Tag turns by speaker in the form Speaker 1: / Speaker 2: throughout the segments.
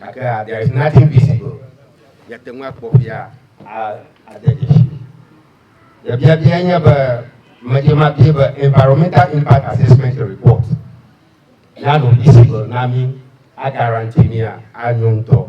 Speaker 1: Gakea, there is nothing visible. Miate ŋu akpɔ ƒia a, ade dzesi. Nye biabiae nye be, medze mabie be Environmental Impact Assessment Report nanɔ visible na mí, a guarantee mía, anyo ŋutɔ.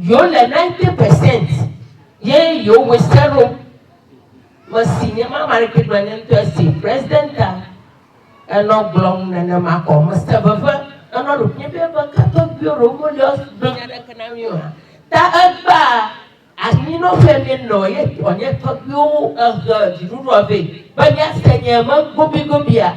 Speaker 2: Yewo le ninety percent ye yewo we se ɖo. Me si nye ma ma ɖeke gblɔ nye ŋutɔ esi president a enɔ gblɔm nene ma kɔ. Me se veve enɔ ɖo nye be be ka tɔgbiwo ɖo mo liɔ gblɔ nya ɖeke na mi oa. Ta egba anyi nɔ ƒe mi nɔ ye tɔ nye tɔgbiwo ehe dziɖuɖua vɛ be mia se nye me gobi gobia.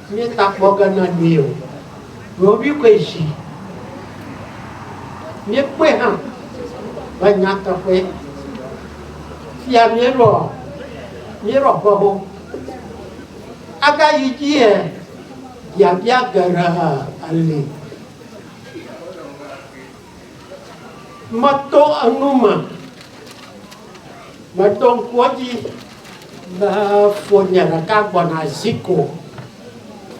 Speaker 3: Míetakpɔ ge na mí o. Ɖewohĩ koe zi míekpɔe hã be nyateƒee. Fifia míeɖɔ míeɖɔ ƒewo agayi dzie biabia geɖe li. Meto enu me, meɖo ŋku edzi be fonye ɖeka gbɔna zi ko,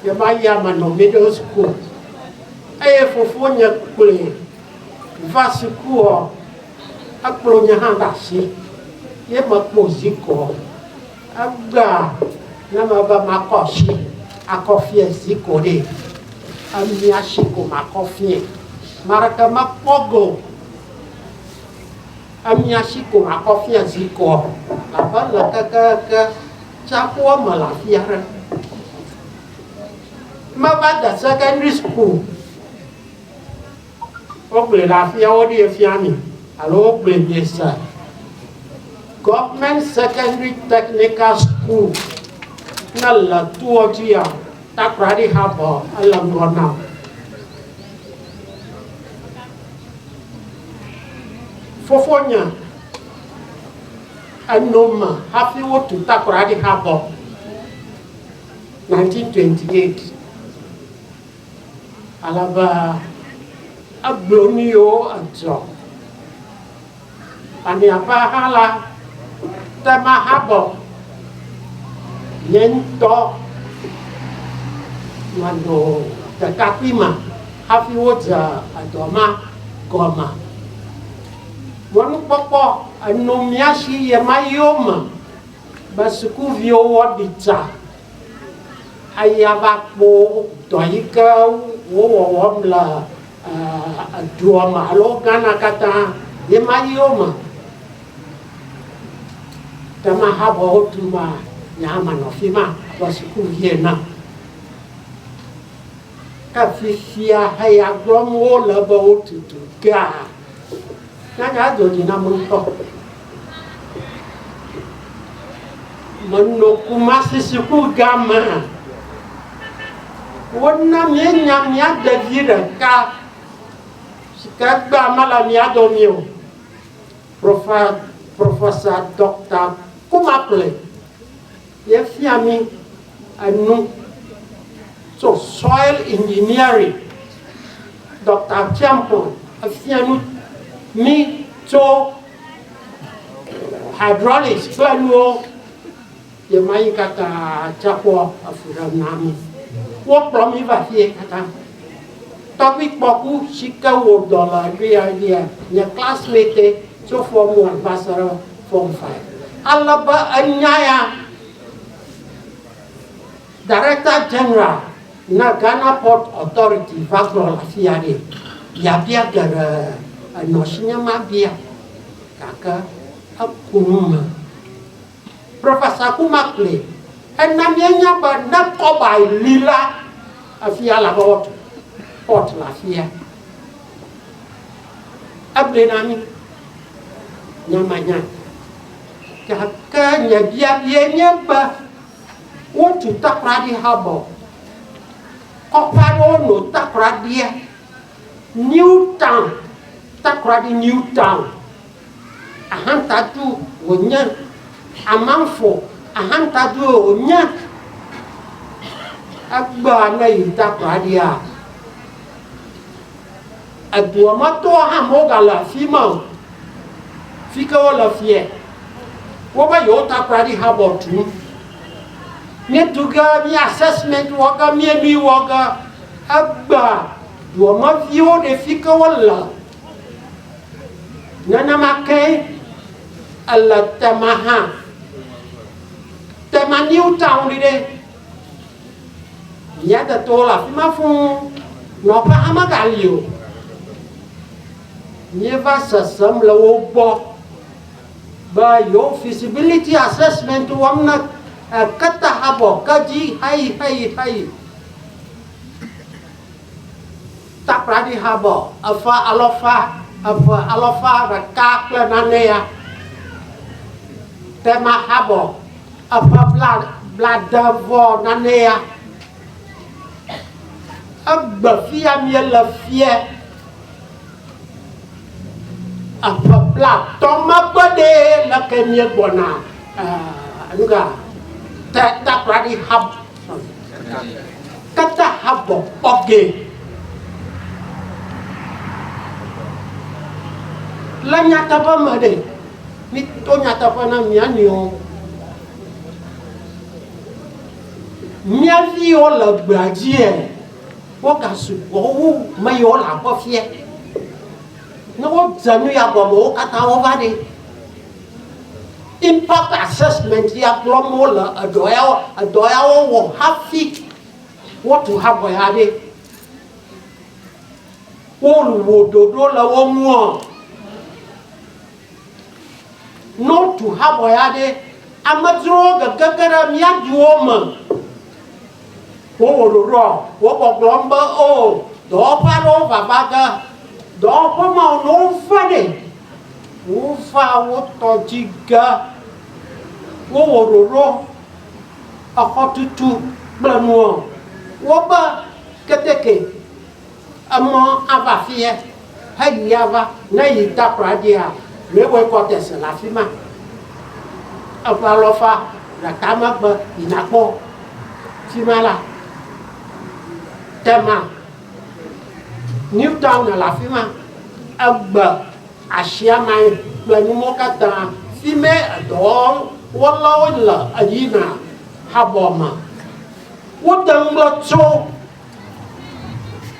Speaker 3: ye va yi ame nɔ middle school eye fofonye kplɔe va sukuɔ, ekplɔ nye hã ɖe asi ye mekpɔ zi ko. Egbea ne mebe makɔ asi akɔ fiẽ zi ko ɖe, emia si ko makɔ fiẽ. Ame aɖeke mekpɔ ge o. Emia si ko makɔ fiẽ zi ko abe le kekeake tsiaƒua me le afi aɖe. Meva de sekɛndri sukulu. Wogblɔe le afia woɖie fia mi alo wogblɔe miese? Government Secondary Technical School ne le toɔ dzi ya Takoradi Harbour ele ŋgɔ na. Fofonye eno me hafi wotu Takoradi Harbour 1928. Alaba agblɔ nu yiwo adzɔ. Le miaƒe axa la, Tema habɔ nye ŋutɔ manɔ ɖekakpui ma hafi wodze edɔ ma gɔme. Mɔnukpɔkpɔ enɔ mía si ɣemaɣiwo me be sukuviwo woaɖi tsa ayi ava kpɔ dɔ yi ke wowɔwɔm le edua me alo Ghana katã ye ma yi wo me. Ke ma habɔ wotu ma, nye hã manɔ afi ma abe sukuvi ene. Efifia eya gblɔm wole be wotutu kea, nyaga do dzi nam ŋutɔ. Menɔ Kumasi suku gã me. Wona míenya mía ɖevi ɖeka si ke egbea mele mía dome o. Professor Doctor Kumakli. Yefia mí enu tso soil engineering. Dɔkta Tiampon efia nu mí tso hydraulics kple nuwo. Yema yi katã tsã kpɔ efu ɖem na mí. Wokplɔ mí va fiye katã. Tɔgbuikpɔku si ke wò dɔ le afia nye nye classmate tso form one va se ɖe form five. Ale be enya ya Director General na Ghana Port Authority va gblɔ le afia nɛ. Biabia geɖe enɔ si nye mabia gake eku nu me. Professor Guma kplɔe hena míenya be ne kɔbae li la, afia la be woatu port le afia. Egblɔe na mí, nyemenya o. Gake nye biabiae nye be wotu takoradi hub-ɔ? Kɔƒe aɖewo nɔ takoradia, New Town, takoradi New Town. Ahantadu wònye. Amamfo ahantadue wònye. Egbɔa ne yi takplɔ aɖia, edua me tɔwo hã megale afi ma o. Fi ke wole fiɛ, wova yewo takplɔ aɖi habɔ tum. Míetu ge, mí assessment wɔ ge, míenui wɔ ge, egbea duameviwo ɖe fi ke wole Nenema ke ele Tema hã. Tema New Town ɖi ɖe. Mía tetowo le afi ma fũu. Nɔƒe hã megali o. Míeva sesem le wo gbɔ be yewo feasibility assessment wɔm na eketahabɔ, kedzi heyi heyi heyi. Taklaɖihabɔ eƒe alɔfa eve alɔfa ɖeka kple nane ya, Temahabɔ eƒe bla blade vɔ nane ya. Egbe fia miele fiɛ eƒe bla tɔ megbe ɖe leke miegbɔna eh, nuga te taklaɖihab Kata habɔ kpɔ ge. Le nyateƒe me ɖe, mito nyateƒe na mía nɔewo. Mía viwo le gbea dzie, wogasugbɔ wu me yiwo le aƒe fia. Ne wodze nu ya gɔme, wo katã wova ɖi. Impact assessment ya gblɔm wole edɔ ya edɔ yawo wɔ hafi wotu habɔ ya ɖe. Wowɔ ɖoɖo le wo ŋuɔ. Ne wotu habɔ ya ɖe, amedzrowo gegege ɖe mía duwo me. Wowɔ ɖoɖoa, wogbɔgblɔm be o dɔwɔƒe aɖewo vava ge. Dɔwɔƒe mawo ne wova ɖe, Wova wo tɔ dzi ge. Wowɔ ɖoɖo exɔtutu kple nuwo. Wobe keteke, emɔ ava afiɛ heyi ava. Ne eyi takpla dzia, mewɔe kɔtɛse le afi ma. Eƒe alɔfa ɖeka megbe yina kpɔ fi ma la. Tema. Newton le afi ma. Egbe asiamai kple numɔwo katã si me edɔwɔlawo le yina habɔ me. Wote ŋu gblɔ tso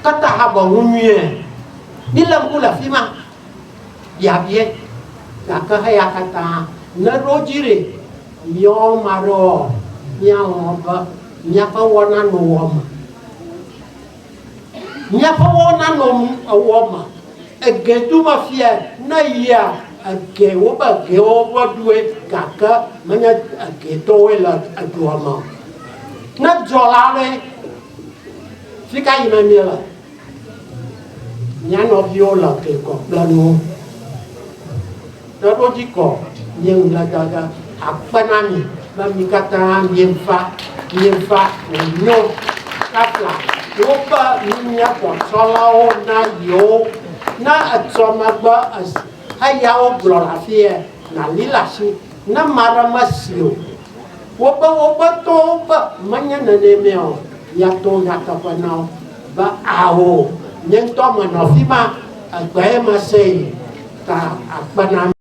Speaker 3: kata habɔ ŋu nyuie. Míle ŋku le afi ma. Biabia gake heya katã ne ɖo dzi ɖe míawo ma ɖewoa, míalɔ̃ be míaƒe wɔna nowɔ me. Míaƒe wɔwo nanɔ ewɔ ma. Ege tu me fia ne yia ege wobe egewo ƒe due gake menye ege tɔwoe le edua me o. Ne dzɔ la ɖe, fi ka yime míele? Mía nɔviwo le ege kɔ kple nuwo. Ɖe wo dzi kɔ nye ŋugbe dada akpe na mi be mi katã mieva mieva wonyo kafla woƒe nunya xɔtsɔlawo na yewo. Ne etsɔ megbe esi eyawo gblɔ le afie na li le asi ne ma ɖe me si o. Wo be woƒe tɔwo be menye nene mea o ya to nyateƒe na wo be ao nye ŋutɔ me nɔ afima egbee me se yi ta akpe na mi.